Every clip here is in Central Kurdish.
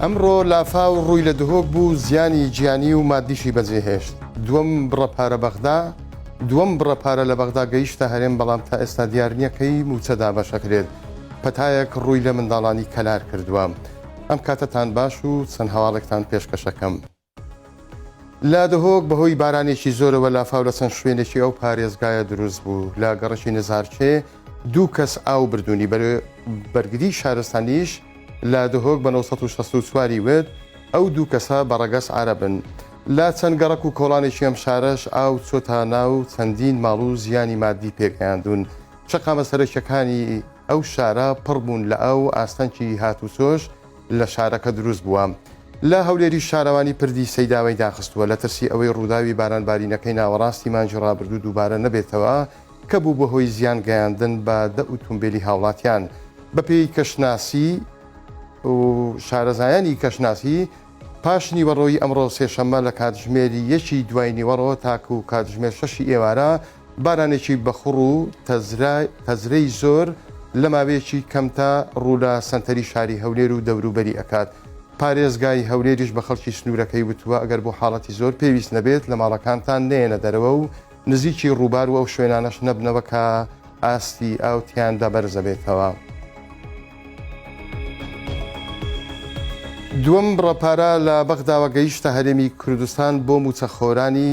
ئەمڕۆ لافاو ڕووی لە دهۆک بوو زیانی گیانی و مادیشی بەجێهێشت دووەم بڕە پارە بەغدا دووەم بڕە پارە لە بەغدا گەیشتە هەرێم بەڵام تا ئێستا دیار نییە کەی موچە دابەشەکرێت پەتایەک ڕووی لە منداڵانی کەلار کردووە ئەم کاتەتان باش و چەند هەواڵێکتان پێشکەشەکەم. لە دهۆک بەهۆی بارانێکی زۆرەوە لافاو لە چەند شوێنێکی ئەو پارێزگایە دروست بوو لە گەڕەکی نزارچێ دوو کەس ئاو بردوونی بەرگری شارستانیش لە دهۆک بە 1964واری وت ئەو دوو کەسە بە ڕەگەس عربن لە چەند گەڕک و کۆڵانێکی ئەم شارەش ئاو چۆتانە و چەندین ماڵ و زیانی مادی پێگەیاندون شەقامە سەرەکیەکانی ئەو شارە پڕ بوون لە ئاو و ئاستەنگی هاتوچۆش لە شارەکە دروست بووە. لە هەولێریش شارەوانی پردی سەیداوەی داخستووە، لە ترسی ئەوەی ڕووداوی باران بارینەکەی ناوەڕاستی مانگی ڕابردوو دووبارە نەبێتەوە کە بوو بە هۆی زیان گەیاندن بە دە ئوتومبێلی هاوڵاتیان. بە پێی کەشناسی و شارەزایانی کەشناسی، پاش نیوەڕۆی ئەمڕۆ سێشەممە لە کاتژمێر یەکی دوای نیوەڕۆ تاکوو کاتژمێر شەشی ئێوارە، بارانێکی بەخوڕ و تەزرەی زۆر لە ماوەیەکی کەمتا ڕوو لە سەنتەری شاری هەولێر و دەوروبەری ئەکات، پارێزگای هەولێریش بە خەڵکی سنوورەکەی وتووە، ئەگەر بۆ حاڵەتی زۆر پێویست نەبێت لە ماڵەکانتان نەیەنە دەرەوە و نزیکی ڕووبار و ئەو شوێنانەش نەبنەوە کە ئاستی ئاو تیاندا بەرزەبێتەوە. دووەم بڕە پارە لە بەغداوە گەیشتە هەرێمی کوردستان بۆ مووچەخۆرانی.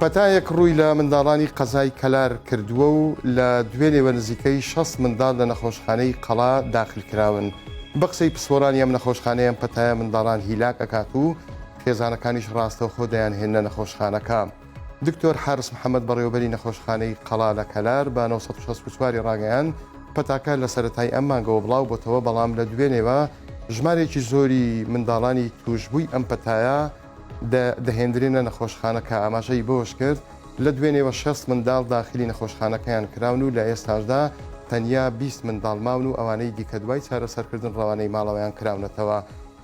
پەتایەک ڕووی لە منداڵانی قەزای کەلار کردووە و لە دوێنێوە نزیکەی شەست منداڵ لە نەخۆشخانەی قەڵا داخل کراون. بە قسەی پسپۆرانی ئەم نەخۆشخانەیە ئەم پەتایە منداڵان هیلاک ئەکات و خێزانەکانیش ڕاستەوخۆ دەیانهێننە نەخۆشخانەکە. دکتۆر حارس محەممەد بەڕێوەبەری نەخۆشخانەی قەڵا لە کەلار بە 964 ی ڕاگەیاند، پەتاکە لە سەرەتای ئەم مانگەوە بڵاو بۆتەوە بەڵام لە دوێنێوە ژمارێکی زۆری منداڵانی تووشبووی ئەم پەتایە دەهێندرێنە نەخۆشخانەکە، ئاماژەی بەوەشکرد، لە دوێنێوە شەست منداڵ داخلی نەخۆشخانەکەیان کراون و لە ئێستاشدا تەنیا بیست منداڵ ماون و ئەوانەی دیکە دوای چارەسەرکردن ڕەوانەی ماڵەوەیان کراونەتەوە.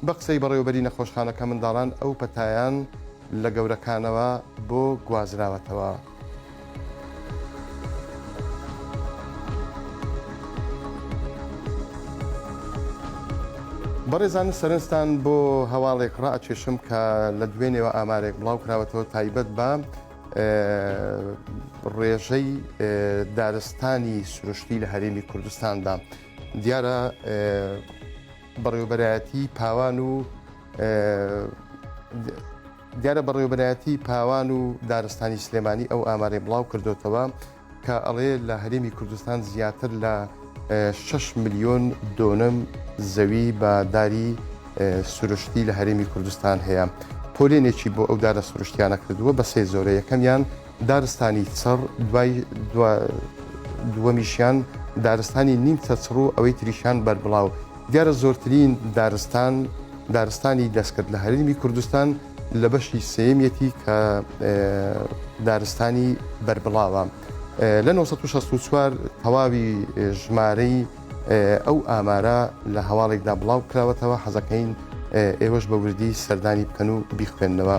بە قسەی بەڕێوەبەری نەخۆشخانەکە منداڵان ئەو پەتایەیان لە گەورەکانەوە بۆ گوازراوەتەوە. بەڕێزان سەرنجتان بۆ هەواڵێک ڕاکێشم کە لە دوێنێەوە ئامارێک بڵاوکراوەتەوە تایبەت بە ڕێژەی دارستانی سروشتی لە هەرێمی کوردستاندا دیارە بەڕێوبەرایەتی پاوان و دیارە بەڕێوەبەرایەتی پاوان و دارستانی سلێمانی ئەو ئامارەی بڵاو کردۆتەوە کە ئەڵێ لە هەرێمی کوردستان زیاتر لە 6 ملیۆن دۆنم زەوی بە داری سروشتی لە هەرێمی کوردستان هەیە پۆلێنێکی بۆ ئەو دارە سروشتیانە کردووە بە سێ زۆرە یەکەمیان دارستانی چڕ، دوای دووەمیشیان دارستانی نیمچە چڕ و ئەوەی تریشیان بەربڵاو. دیارە زۆرترین دارستان، دارستانی دەستکرد لە هەرێمی کوردستان لە بەشی سێیەمیەتی کە دارستانی بەربڵاوە. لە نۆ سەد و شەست و چوار تەواوی ژمارەی ئەو ئامارە لە هەواڵێکدا بڵاوکراوەتەوە، حەزەکەین ئێوەش بە وردی سەردانی بکەن و بیخوێننەوە.